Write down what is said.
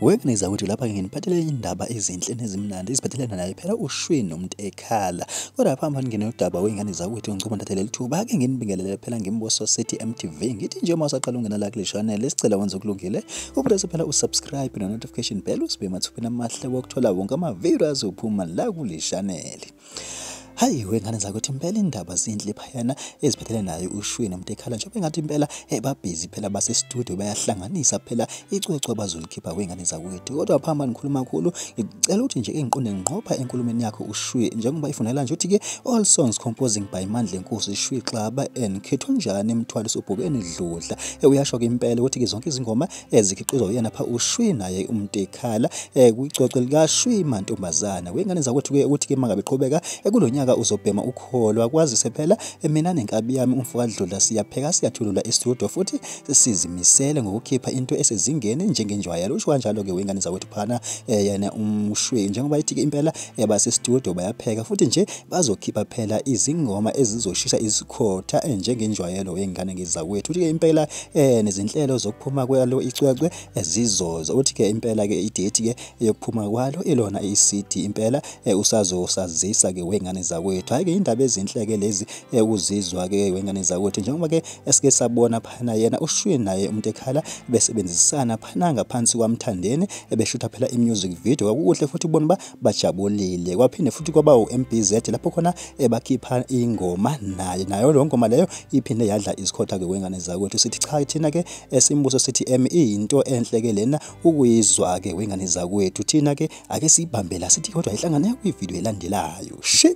Wekuniza ukuthi lapha nginiphathele indaba ezinhle nezimnandi iziphathelana naye phela ushwini umuntu ekhala. Kodwa lapha manje nginodaba wengane zakwethu ngicela ndathe leli thuba ake nginibingelele phela ngimboso City MTV. Ngithi nje uma usaqala ungena la kule channel sicela wenze okulungile. Upress phela usubscribe no notification bell usibe mathupha amahle wokuthola wonke ama videos uphuma la kule channel. hayi wengane zakuthi impela indaba zinhle phayana eziphethelene nayo ushwini umuntu ekhala njengoba engathi impela ebabhizi phela basestudio bayahlanganisa phela icwecwe abazolikhipha kwengane zakwethu kodwa phamba nikhuluma kakhulu ngicela ukuthi nje engiqonde ngqopha enkulumeni yakho ushwi njengoba ifunela nje ukuthi-ke all songs composing by mandla enkosi shwi xaba and khethwa njani emthwaliso ubhokeni dludla uyasho-ke impela ukuthi-ke zonke izingoma ezikhiqizwa uyena pha ushwi naye umtekhala eh kwicoce lika shwi mantombazana wengane zakwethu ke ukuthi ke mangabe qhubeka eh, kulonyaka uzobhema ukholwa kwazise phela eh, mina nenkabi yami umfokadlula siyapheka siyathulula estudio futhi sizimisele ngokukhipha into esezingeni njengenjwayelo usho kanjalo ke wengane zakwethu phana eh, yena umshwi njengoba ithi ke impela base studio bayapheka futhi nje bazokhipha phela izingoma ezizoshisa ukukhotha eh, njengenjwayelo wey'ngane ngezakwethu uthi-ke impela um nezinhlelo zokuphuma kwalo icwecwe eh, zizoza uthi-ke impela-ke idethi-ke yokuphuma kwalo ilona i-cd impela um usazosazisa-ke wey'ngane zakwethu hhayi-ke indaba ezinhle-ke lezi ukuzizwa-ke wey'ngane zakwethu njengoba-ke esike sabona phana yena ushwi naye umuntu ekhala besebenzisana phana ngaphansi kwamthandeni ebeshutha phela i-music video kwakukuhle futhi ubona uba bajabulile kwaphinde futhi kwaba uMBZ lapho khona ebakhipha ingoma naye nayo lo ngoma leyo iphinde yadla isikhotha ke wengane zakwethu sithi cha thina ke esimbuso sithi em into enhle ke lena ukuyizwa ke wengane zakwethu thina ke ake sibambela sithi kodwa ihlangane kwi video elandelayo shi